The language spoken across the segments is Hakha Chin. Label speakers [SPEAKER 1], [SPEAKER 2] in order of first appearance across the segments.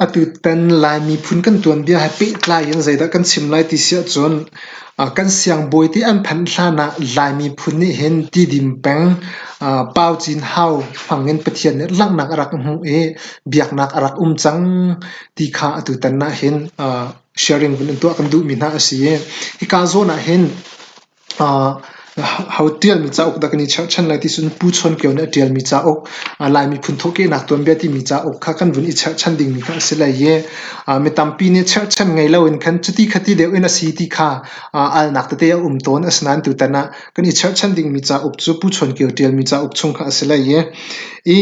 [SPEAKER 1] Atutan Lai miphun kan tuanbia he pehtlai in zeidah kan chim lai ti si ahcun kan siangbawi te an phanh hlan ah Lai miphun nih hin Tidim peng Pau Cin Hau hmang in Pathian nih langhnak a rak hmuh i biaknak a rak um cang ti kha atutan ah hin sharing vun in tuah kan duhmi hna a si i hika zawn ah hin Ho tialmi cauk dah kan i cherhchan lai ti cun Pu Chawn Kio nih a tialmi cauk Lai miphun thawhkehnak tuanbia timi cauk kha kan vun i cherhchan dingmi kha a si lai i mi tampi nih cherhchan ngei loin khan cuti khati deuh in a si ti kha alnak tete a um tawn. Asinain tutan ah kan i cherhchan dingmi cauk cu Pu Chawn Kio tialmi cauk chung kha a si lai i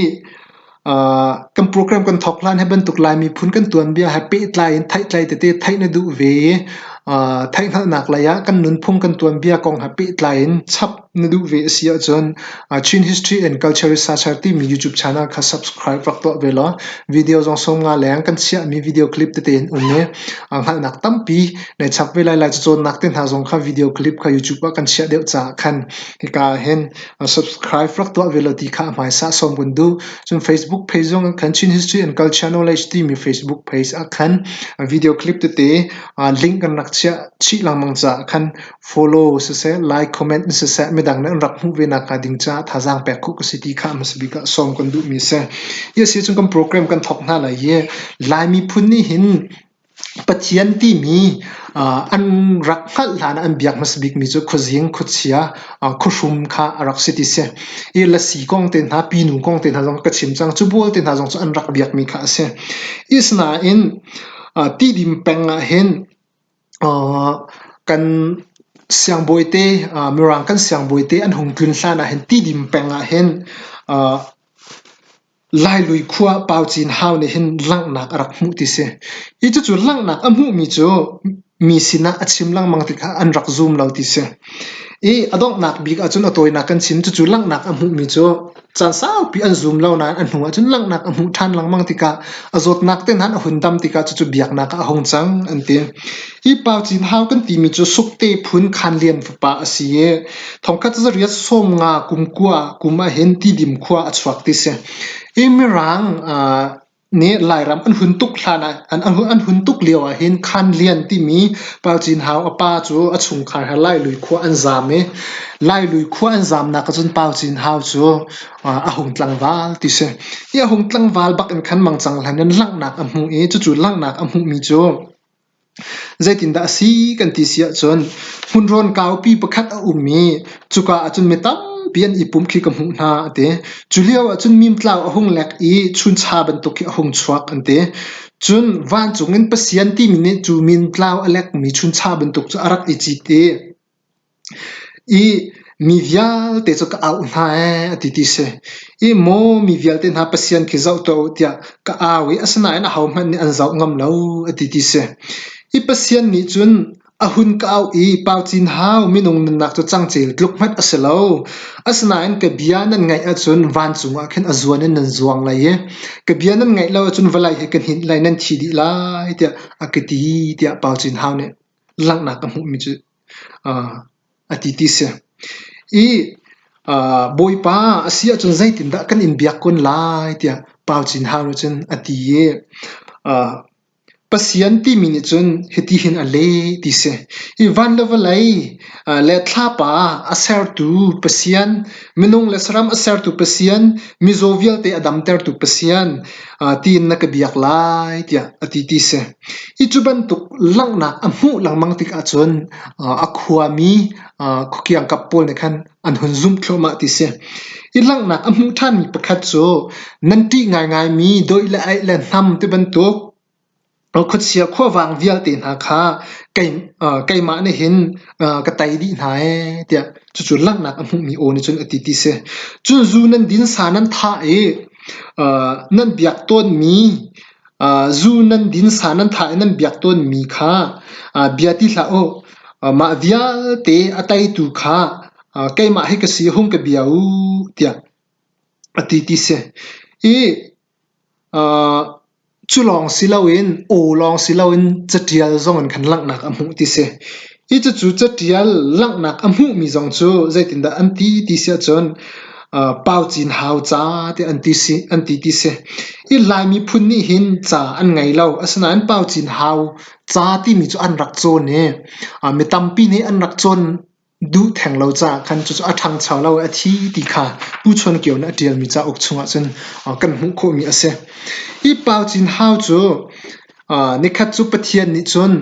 [SPEAKER 1] kan program kan thawk hlan hi bantuk Lai miphun kan tuanbia he pehtlai in theihtlai tete theih na duh ve i theihhngalhnak lei ah kan nunphung kan tuanbia kong he pehtlai in chap na duh ve a si ahcun Chin History and Culture Researcher timi YouTube channel kha subscribe rak tuah ve law video zong sawm nga leng kan chiahmi video clip tete in um i hngalhnak tampi nei chap ve lai lai cacawnnak te hna zong kha video clip kha YouTube ah kan chiah deuh caah khan hika ah hin A subscribe rak tuah ve law ti kha a hmaisa sawm kan duh. Cun Facebook page zong ah khan Chin History and Culture Knowledge timi Facebook page ah khan a video clip tete aa link kan rak chiah chih lengmang caah khan follow siseh, like, comment siseh midang nih an rak hmuh ve nak hnga ding caah thazaang pek khawh ka si ti kha a hmasa bik ah sawm kan duhmi a si. Hi a si cun kan program kan thawk hna lai i Laimi phun nih hin Pathian timi an rak hngalh hlan ah an biak hmasa bikmi cu khuazing, khuachia, khuahrum kha a rak si ti a si. I lasi kong te hna, pinu kong te hna zong ka chim cang. Cu bual te hna zong cu an rak biakmi kha a si. Asinain Tidim peng ah hin kan siangbawi te, Mirang kan siangbawi te an hung tlun hlan ah hin Tidim peng ah hin Lailui khua Pau Cin Hau nih hin langhnak a rak hmuh ti si. Hi cucu langhnak a hmuhmi cu mi sinah a chim lengmang tikah an rak zum lo ti si. I a donghnak bik ahcun a tawinak kan chim. Cucu langhnak a hmuhmi cu caan saupi an zum lo nain a hnu ahcun langhnak a hmuh ṭhan lengmang tikah a zawtnak te nan a hun dam tikah cucu biaknak ah a hung cang an ti. Hi pa cin hau kan timi cu sukte phun khan lian fapa a si i thongkhat cu riat sawm nga kum kua kum ah hin ti dim khua a chuak ti si. Hi mirang nih Lairam an hun tuk hlan ah an hun tuk lio ah hin khan lian timi pa cin hau a pa cu a chungkhar he lai lui khua an zaam i lai lui khua an zaamnak ahcun pa cin hau cu a hung tlangval ti si. Hi a hung tlangval bak in khan mang cang hlan in langhnak a hmuh i cucu langhnak a hmuhmi cu Zeitindah a si kan ti si ahcun hmunrawn kaupi pakhat a um i cuka ahcun mi tampi an i pum khi ka hmuh hna a ti. Cu lio ahcun mimtlau a hung lek i chuncha bantuk khi a hung chuak an ti. Cun vancung in Pathian timi nih cu mintlau a lekmi chuncha bantuk cu a rak i cit i I mi vialte cu ka auh hna ee a ti ti si. I maw mi vialte hna Pathian khi zoh tuah u tiah ka au i asinain ahohmanh nih an zoh ngam lo a ti ti si. I Pathian nih cun a hun ka auh i pau cin hau minung nunnak cu cangcel tluk hmanh a si lo. Asinain ka bia nan ngaih ahcun vancung ah khin a zuan in nan zuang lai i ka bia nan ngaih lo ahcun valei he ka hninh lai nan thi dih lai tiah a ka ti tiah pau cin hau nih Langhnak ka hmuhmi cu a ti ti si. I Bawipa a si ahcun zeitindah kan in biak kun lai tiah Pau Cin Hau nih cun a ti i Pathian timi nih cun hiti hin a leh ti si. Hi van le vawlei le thlapa a sertu Pathian, minung le saram a sertu Pathian, mizaw vialte a damtertu Pathian tiin na ka biak lai tiah a ti ti si. Hi cu bantuk langhnak a hmuh lengmang tikah cun a khuami khukiangkap pawl nih khan an hun zumh thluahmah ti si. Hi langhnak a hmuh ṭhanmi pakhat cu nan ṭih ngaingaimi dawih le aih le hnam tibantuk khuachia khuavang vialte hna kha keimah nih hin ka tei dih hna ee tiah cucu langhnak a hmuhmi aw nih cun a ti ti si. Cun zu nan din sa nan thah i nan biak tawnmi Zu nan din sa nan thah i nan biak tawnmi kha bia ti hlah u. Mah vialte a teitu kha keimah hi ka si hung ka bia u tiah a ti ti si. I cu lawng si loin aw lawng si loin catial zong in kan langhnak a hmuh ti si. Hi cucu catial langhnak a hmuhmi zong cu zeitindah an ti ti si ahcun uh, pau cin hau ca tiah an ti, si, an ti ti si. Hi Lai miphun nih hin ca an ngei lo. Asinain pau cin hau ca timi cu an rak cawn i uh, mi tampi nih an rak cawn duh theng lo caah khan cucu a ṭhangcho lo i a thi ti kha Pu Chuan Kio nih a ṭialmi cauk chungah cun uh, kan hmuh khawhmi a si. Hi pau cin hau cu uh, nikhat cu Pathian nih cun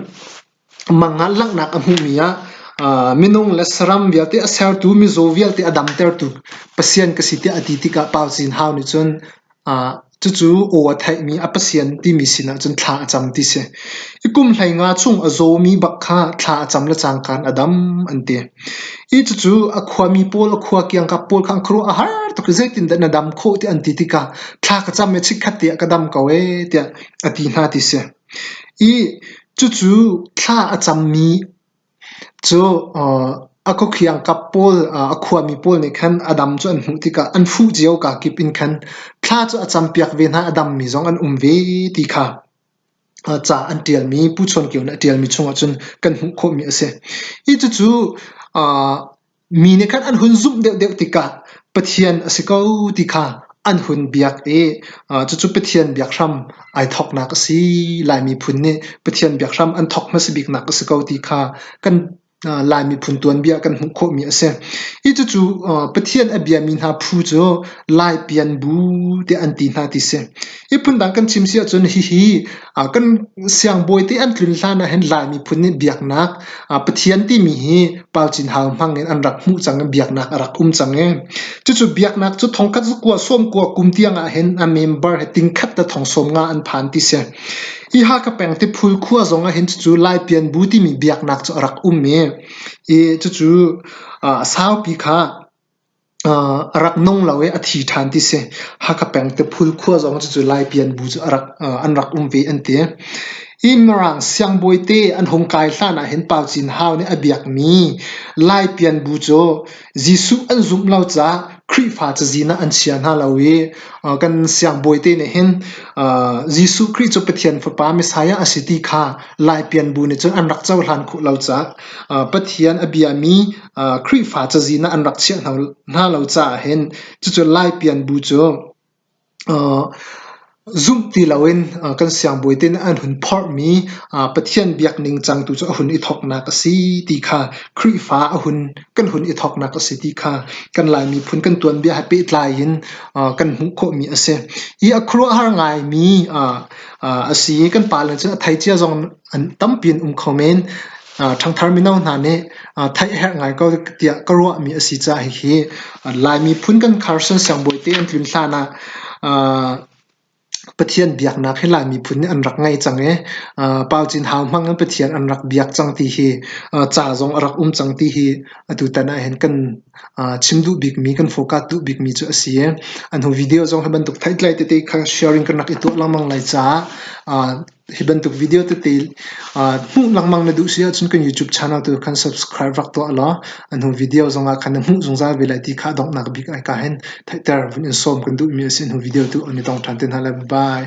[SPEAKER 1] Mangan langhnak a hmuhmi ah minung le saram vialte a sertu, mizaw vialte a damtertu Pathian ka si tiah a ti tikah Paucin Hau nih cun cucu aw a theihmi a Pathian timi sinah cun thla a cam ti si. I kum hleinga chung a zawmi bak kha thla a cam le cangkaan a dam an ti. Hi cucu a khuami pawl, a khua kiangkap pawl kha an khuaruah a har tuk i zeitindah na dam khawh ti an ti tikah thla ka cam i chikkhat tiah ka dam ko ee tiah a ti hna ti si. Ih cucu thla a cammi cu a khuakhiangkap pawl a khuami pawl nih khan a dam cu an hmuh tikah an fuh cio kaa kip in khan thla cu a campiak ve hna, a dammi zong an um ve ti kha ca an ṭialmi Pu Chawn Kio nih a ṭialmi chungah cun kan hmuh khawhmi a si. Ih cucu Mi nih khan an hun zumh deuhdeuh tikah Pathian a si ko ti kha an hun biak i cucu Pathian biakhram ai thawknak a si. Lai miphun nih Pathian biakhram an thawk hmasa biknak a si ko ti kha kan Lai miphun tuanbia kan hmuh khawhmi a si. Hi cucu Pathian a biami hna phu cu Lai pian bu tiah an ti hna ti si. Hi phundang kan chim si ahcun hihi kan siangbawi te an tlun hlan ah hin Lai miphun nih biaknak Pathian timi hi palcin hau hmang in an rak hmuh cang i biaknak a rak um cang i cucu biaknak cu thongkhat kua sawm kua kum tiang ah hin a member he tingkhat te thong sawm nga an phan ti si hi Hakha peng Tiphul khua zong ah hin cucu Lai pianbu timi biaknak cu a rak um i cucu saupi kha A rak nung lo i a thi ṭhan ti si. Hakha peng Tiphul khua zong cucu Laipi an bu cu a rak an rak um ve an ti. Hi Mirang siangbawi te an hung kai hlan ah hin Pau Cin Hau nih a biakmi Laipi an bu cu Jesuh an zumh lo caah Khrihfa cazin ah an chia hna lo i kan siangbawi te nih hin Jesuh Khrih cu Pathian Fapa Messiah a si ti kha Laipi an bu nih cun an rak cohlan khawh lo caah Pathian a biami Khrihfa cazi na an rak chiah hna lo caah hin cucu Lai pianbu cu zumh ti loin kan siangbawi te nih an hun phorhmi Pathian biak ningcang tu cu a hun i thawknak a si ti kha Khrihfa kan hun i thawknak a si ti kha kan Lai miphun kan tuanbia he pehtlai in kan hmuh khawhmi a si. Hi a khuaruahhar ngaimi a si. Kan pa le cun a thei cia zong an tampi an um kho men. Ṭhangthar mino hna nih theih a herh ngai ko tiah ka ruahmi a si caah hihi Laimi phun kan khar siangbawi te an tlun hlan ah Pathian biaknak hi Laimi phun nih an rak ngei cang i Pau Cin Hau hmang in Pathian an rak biak cang ti hi ca zong a rak um cang ti hi atutan ahhin kan chim duh bikmi kan forecast duh bikmi cu a si i an hnu video zong hi bantuk theihtlai tete kha sharing kan rak i tuah lengmang lai caah Hi bantuk video tete hmuh lengmang na duh si ahcun kan YouTube channel tu khan subscribe rak tuah law a hnu video zongah khan na hmuh zungzal ve lai ti kha donghnak bik ai ka hen theihter vun in sawm kan duhmi a si hnu video tu an i tong ṭhan te hna lai. Bye!